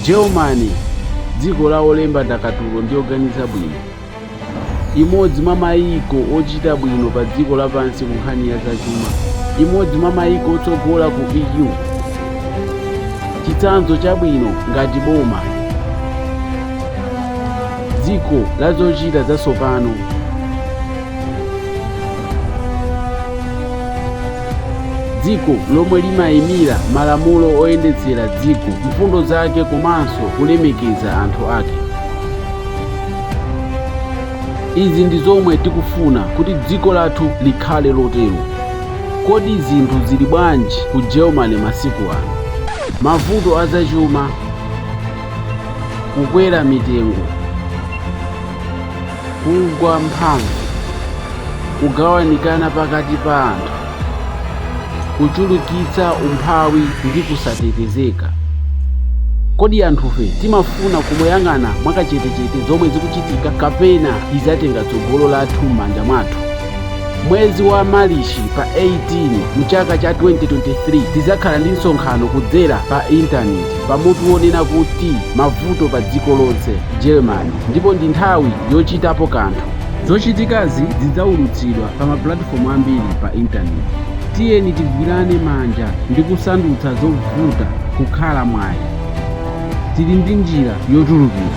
Germany, dziko la olemba ndakatulo ndi oganiza bwino, imodzi mwa mayiko ochita bwino pa dziko lapansi ku nkhani ya zachuma, imodzi mwa mayiko otsogola ku EU, chitsanzo chabwino ngati boma, dziko la zochita zatsopano. dziko lomwe limayimira malamulo oyendetsera dziko mfundo zake komanso kulemekeza anthu ake izi ndi zomwe tikufuna kuti dziko lathu likhale lotero kodi zinthu zili bwanji ku germany masiku ano mavuto azachuma kukwera mitengo kugwa mphamvu kugawanikana pakati pa anthu kuchulukitsa umphawi ndi kusatetezeka kodi anthufe timafuna kumayang'ana mwakachetechete zomwe zikuchitika kapena tizatenga tsogolo lathu m'manja mwathu mwezi wa malichi pa 18 mchaka cha 2023 tizakhala ndi msonkhano kudzera pa intaneti pa mutu wonena kuti Mavuto Padziko Lonse, Germany, ndipo ndi nthawi yochitapo kanthu. Zochitikazi zidzaulutsidwa pa mapulatifomu ambiri pa Intaneti. Tiyeni tigwirane manja ndi kusandutsa zovuta kukhala mwayi. Tili ndi njira yotulukira.